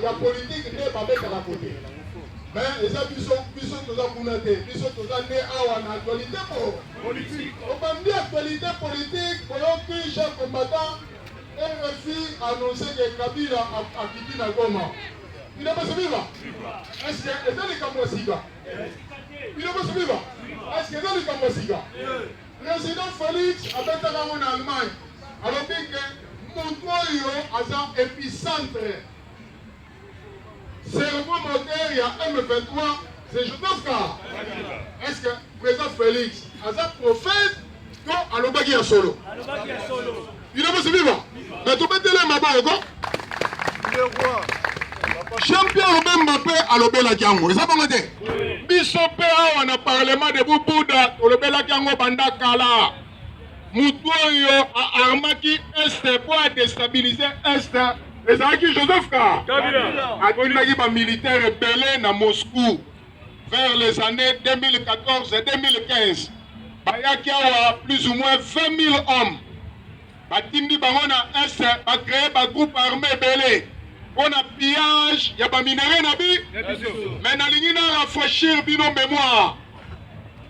ya politiki nde babetaka kote me eza biso biso toza kuna te biso toza nde awa na actualité po obandi actualité politique boyoki chef combattant rfi annonce ke kabila akiti na goma bino bosi biva eske eza likambo ya sika bino bosi biva eske eza likambo ya sika President Felix abetaka yango na Allemagne, alobi ke moto oyo aza epicentre serment moteur ya M23 c'est Joseph Kabila. Est-ce que president Felix aza prophète to alobaki ya solo? Alobaki ya solo. Bino bosi viva. Mais tobetele maboye ko. Champion Robin Mbappé alobelaki yango. Eza bongo te. Biso pe awa na parlement de Bubuda olobelaki yango banda kala. Mutu oyo a armaki est pour a déstabiliser est ezalaki Joseph Kabila. Atindaki ba militaires ebele na Moscou. vers les annees 2014 et 2015 bayaki awa plus ou moins 20 000 hommes batindi bango na est bacreye bagroupe armé ebele mpo na pillage ya baminere na bi mais nalingi na rafraîchir bino mémoire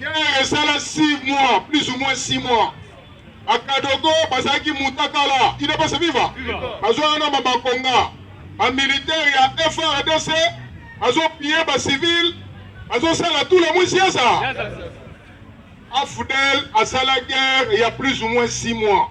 Guerre esala 6 mois, plus ou moins 6 mois. A Kadogo bazalaki mutakala, il ne passe viva. Bazwa na mabakonga. Ba militaires ya FRDC bazo piller ba civils, bazo sala tout le monde siasa. Afudel asala guerre il y a plus ou moins 6 mois.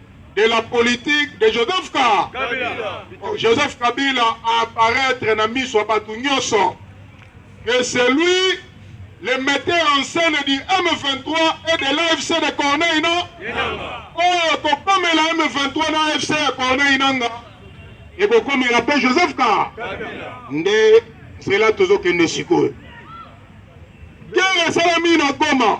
de la politique de Joseph Ka Kabila. Oh, Joseph Kabila a apparaître na miso ya bato nyonso que c'est lui le metteur en scène du M23 et de l'AFC de Corneille non oyo kokomela M23 na AFC ya Corneille Nanga ekokomela mpe Joseph Ka nde nzela tozokende sikoyo guerre esalami na Goma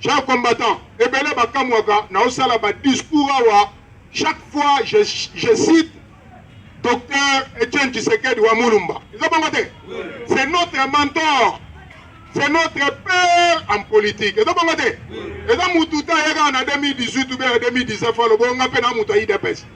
Cher combattant, ebele ba kamwaka na osala ba discours awa chaque fois je, je cite docteur Etienne Tshisekedi wa Mulumba. Eza bongo te? C'est notre mentor. C'est notre père en politique. Eza bongo te? Eza mutu ta yaka na 2018 ou bien 2019 alobo nga pe na mutu ya IDPS.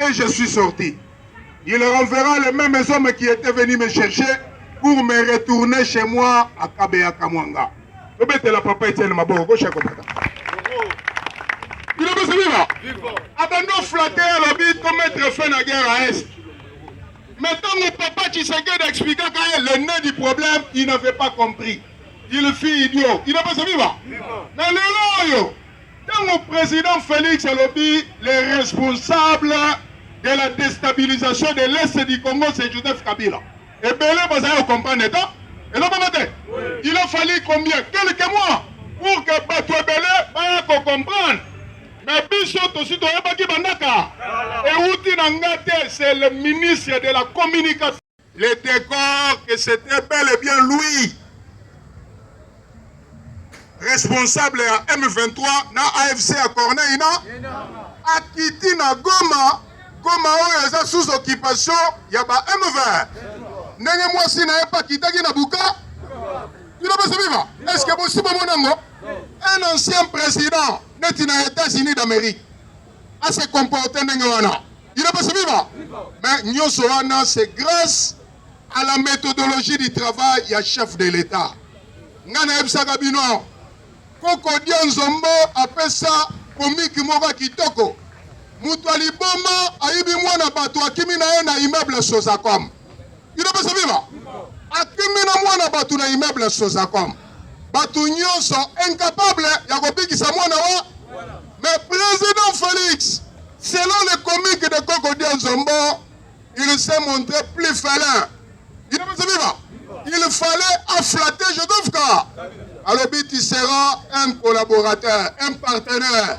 et je suis sorti. Il renverra les mêmes hommes qui étaient venus me chercher pour me retourner chez moi à Kabeya Kamwanga. la papa Etienne Maboko, gauche à combattant. Bilobesi bino abandi oflate alobi to mettre fin na guerre à est mais ntango papa tshisekedi expliquaka ye le nez du problème il n'avait pas compris il fit idiot inapesa biba na lelo oyo Tango president Felix alobi le responsable de la destabilisation de l'est du Congo c'est Joseph Kabila. Ebele bazali ko comprendre eta eloko moko te. Il a fallu combien quelques mois pour que bato ebele baya ko comprendre. Mais biso tosi toyebaki bandaka ewuti na nga te, c'est le ministre de la communication Le decor que c'était bel et bien lui responsable ya M23 na AFC ya Corneille na akiti na Goma Goma oyo eza sous occupation ya ba M20 ndenge mwasi na ye mpe akitaki na buka bino bosi biva est ce que bosi bomona yango un ancien président neti na États-Unis d'Amérique a se comporter ndenge wana il est passé viva mais nyonso wana c'est grâce à la méthodologie du travail ya chef de l'état ngai nayebisaka bino koko dia nzombo apesa komiki moko ya kitoko moto ya liboma ayibi mwana bato akimi na ye na immeuble sozacom Udps viva! Akimi na mwana bato na immeuble Sozacom. Bato nyonso incapable ya kobikisa mwana wa mais président Félix selon le comique de Koko Dianzombo il s'est montré plus félin. Udps viva! Il fallait afflatter Jodovka. Alors tu seras un collaborateur, un partenaire.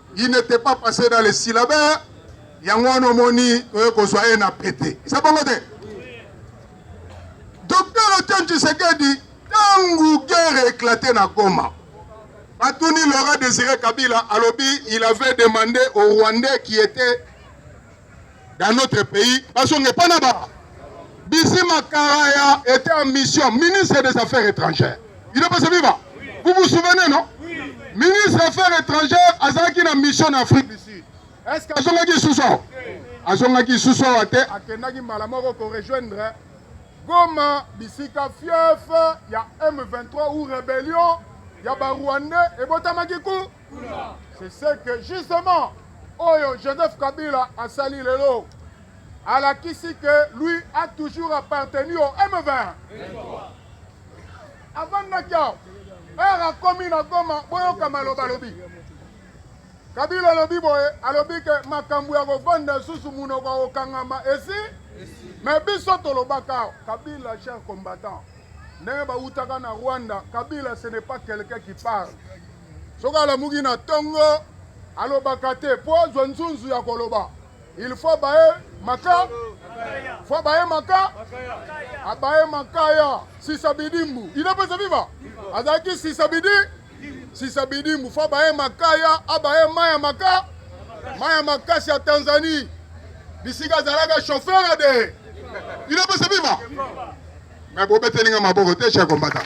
il n'était pas passé dans les syllabaires yango wana omoni toye kozwa ye na pete eza bongo te docteur etienne tshisekedi ntango guerre éclate na goma batuni laura désiré kabila alobi il avait demandé au rwandais qui était dans notre pays bazonga epai na ba bisima karaya était en mission ministre des affaires étrangères il est passé viva vous vous souvenez non ministre des affaires étrangères azalaki na mission na afrique du sud est ce que azongaki lisusu awa azongaki lisusu awa te akendaki mbala moko korejoindre goma bisika fief ya m23 ou rébellion ya barwandais ebotamaki ku C'est ce que justement oyo Joseph Kabila asali lelo alakisi que lui a toujours appartenu au M20. Avandaki awa ere akomi na Goma boyoka maloba alobi Kabila alobi boye alobi ke makambo ya kovanda susu monoko ya kokangama esi me biso tolobaka awa Kabila cher combattant ndenge bawutaka na Rwanda Kabila ce n'est pas quelqu'un qui parle Soki alamuki na tongo alobaka te po azwa nzunzu ya koloba. Il faut baye maka faut baye maka abaye makaya sisa bidimbu il est pesa viva azalaki sisa bidi sisa bidimbu faut baye makaya abaye maya maka maya makasi ya Tanzanie bisika azalaka chauffeur de il est pesa viva Mais bobeteli nga maboko te cher combattant.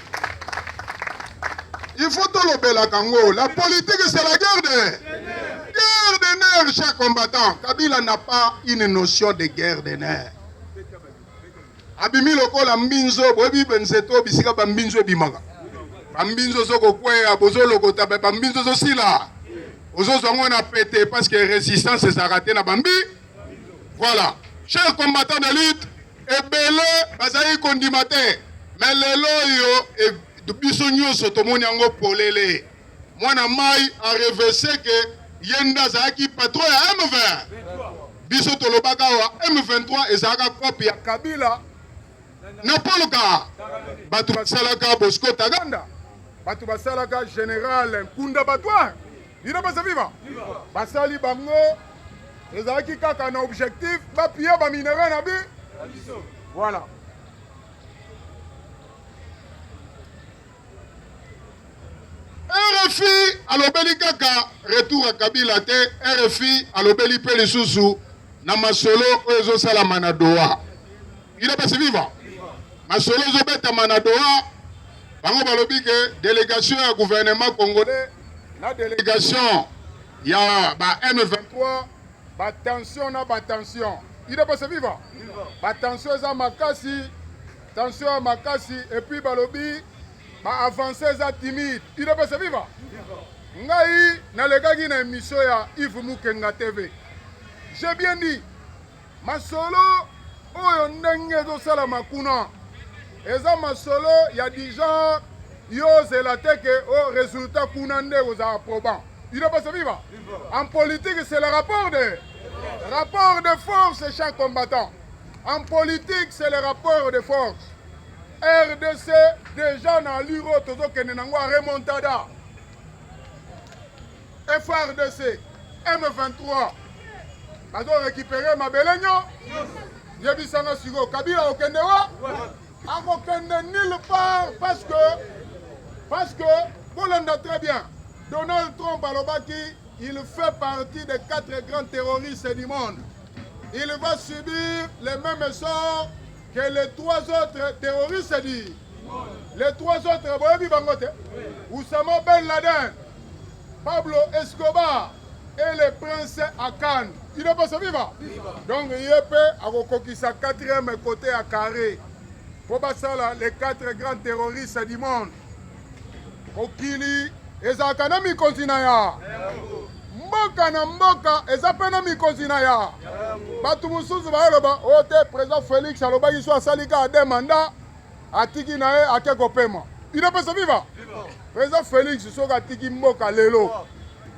Il faut tolobelaka ngo. La politique c'est la guerre de guerre de nerfs cher combattant. Kabila n'a pas une notion de guerre de nerfs. Abimi lokola mbinzo boyebi nzeto bisika ba mbinzo ebimaka. Ba mbinzo zo kokweya bozo lokota ba mbinzo zo sila. Ozo zongo na pete parce que résistance ezalaka te na bambi. Voilà, chers combattants de lutte, ebele bazali kondima te mais lelo oyo e, biso nyonso tomoni yango polele. Mwana mai a revese ke ye nde azalaki patron ya M20. Biso tolobaka awa M23 ezalaka kopi ya Kabila na Paul Kagame. Bato basalaka Bosco Taganda, bato basalaka General Nkunda Batwa Bino pesa viva. Basali bango ezalaki kaka na objectif bapille ba minerais na bi. Voilà. RFI alobeli kaka retour ya Kabila te, RFI alobeli mpe lisusu na masolo oyo ezosalama na Doha. Udps viva! Masolo ezobetama na Doha, bango balobi ke delegation ya gouvernement congolais na delegation ya ba M23 ba tension na ba tension. Udps viva! Ba tension eza makasi, tension ya makasi et puis balobi ba avance eza timide. Udps viva! Ngai nalekaki na emission ya Yves Mukenga TV. J'ai bien dit Masolo oyo ndenge ezosalama kuna eza masolo ya du genre yozela te ke o oh, resultat kuna nde kozala probant ino pasa viva en politique c'est le rapport de rapport de force chaque combattant en politique c'est le rapport de force rdc déjà na luro tozokende nango a remontada FRDC M23 bazo récupérer mabele nyo yebisa nga sikoyo kabila okende wa akokende nulle part parce que parce que bolanda très bien donald trump alobaki il fait partie des quatre grands terroristes du monde il va subir les mêmes sorts que les trois autres terroristes dit les trois autres boyebi bango te Oussama Ben Laden Pablo Escobar et le prince Akan il ne pas viva donc ye mpe akokokisa quatrième côté ya carré mpo basala les quatre grands terroristes du monde Mokili ezalaka na mikonzi na ya mboka na mboka eza mpe na mikonzi na ya bato mosusu bayoloba oyo oh, te président félix alobaki so asali kaka de manda atiki na ye ake kopema bino mpe sobiba président félix soki atiki mboka lelo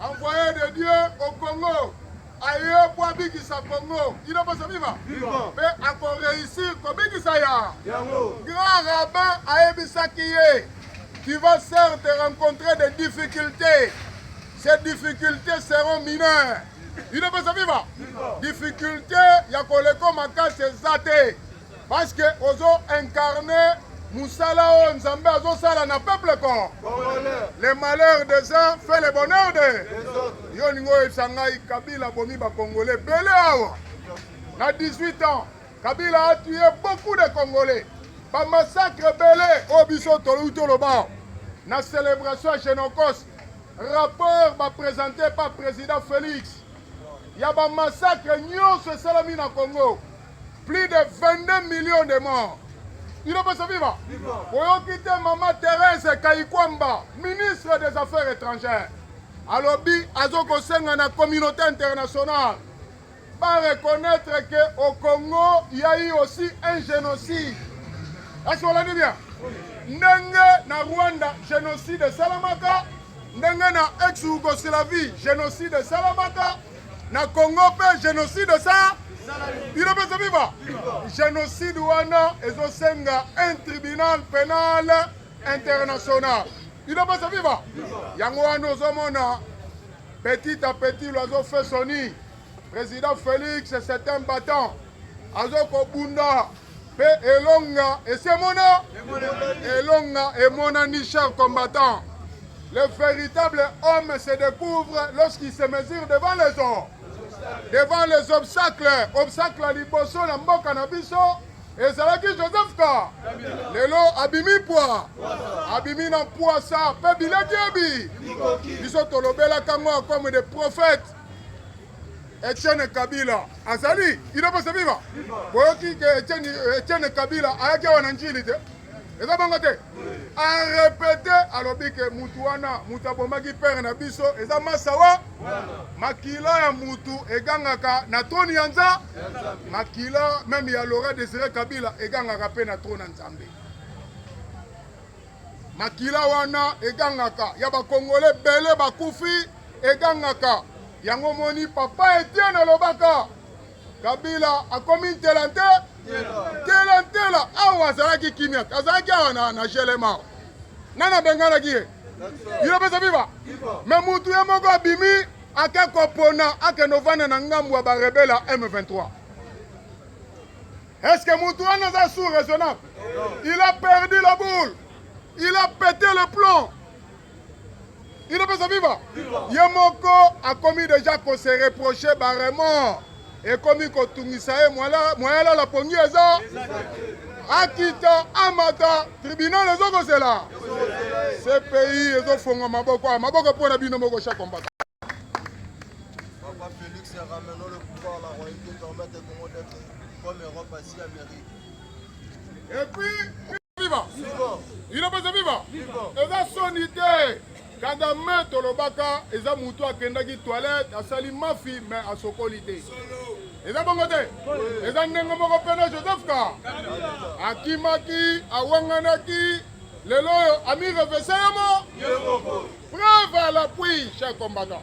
Envoyé de Dieu au Congo aye mpo abikisa Congo ino posa viva mpe akoreusir kobikisa ya grand rabbin ayebisaki ye tu vas certes rencontrer des difficultés ces difficultés seront mineures ino posa viva difficulté ya koleko makasi eza te Parce que ozo incarner musala oyo Nzambe azosala na peuple con. Le malheur des uns fait le bonheur de. Yo ningo oyebisa ngai Kabila bomi ba Congolais bele awa. Na 18 ans, Kabila a tué beaucoup de Congolais. Ba massacre bele oyo biso tolobi toloba. Na celebration ya Genocos, rapport ba presente par président Félix. Ya ba massacre nyonso esalami na Congo. Plus de 22 millions de morts. Bino pesa viva. Oyoki te mama Therese Kayikwamba, ministre des Affaires étrangères. Alobi azokosenga na communauté internationale ba reconnaître que au Congo il y a eu aussi un génocide. Est-ce qu'on l'a dit bien? Ndenge na Rwanda génocide esalamaka, ndenge na ex-Yougoslavie génocide esalamaka. na Congo pe genocide esa bino pe ezobiba genocide wana ezosenga un tribunal penal international bino pe ezobiba yango wana ozomona petit à petit loiseau fait soni président félix c'est un battant azokobunda Pe elonga esi emona elonga emonani cher combattant le véritable homme se découvre lorsqu'il se mesure devant les hommes devant les obstacles obstacle ya liboso na mboka na biso ezalaki joseph ka lelo abimi pwa abimi na pwasa mpe bileki ebi biso tolobelaka ngo comme des prophètes Etienne Kabila azali idopesa viva boyoki ke Etienne, Etienne Kabila ayaki awa na njili te eza bango te arepete alobi ke mutu wana mutu abomaki pere na biso eza masawa makila ya mutu egangaka na troni ya nza makila meme ya lora desire kabila egangaka mpe na troni ya nzambe Makila wana egangaka ya bakongole bele bakufi egangaka yango moni papa Etienne alobaka Kabila akomi ntela nte ntela ntela awa azalaki kimia azalaki awa na, na gelema nani abenganaki ye bino pesa biba me mutu ye moko abimi ake kopona akende ovanda na ngambo ya barebela M23 Est-ce que Moutouane est un sous raisonnable Il a perdu la boule. Il a pété le plomb. Il est pas vivant. Yemoko a commis déjà qu'on se reprochait barrement. Et comme il kotungisaye moyen là la pongi eza. Akita amata tribunal ezo ko zela. Ce pays ezo fongo maboko ah, maboko pour na bino moko chaque combattant. Papa Félix ramène le pouvoir la royauté permet au Congo d'être Comme Europe, Asie, Amérique. Et puis, viva ino mpenza viva eza soni te kagame tolobaka eza motu akendaki toilette asali mafi me asokoli te eza bongo te eza ndenge moko mpe na joseph ka akimaki awanganaki lelo oyo amirevese yemo preuve à l'appui cher combattant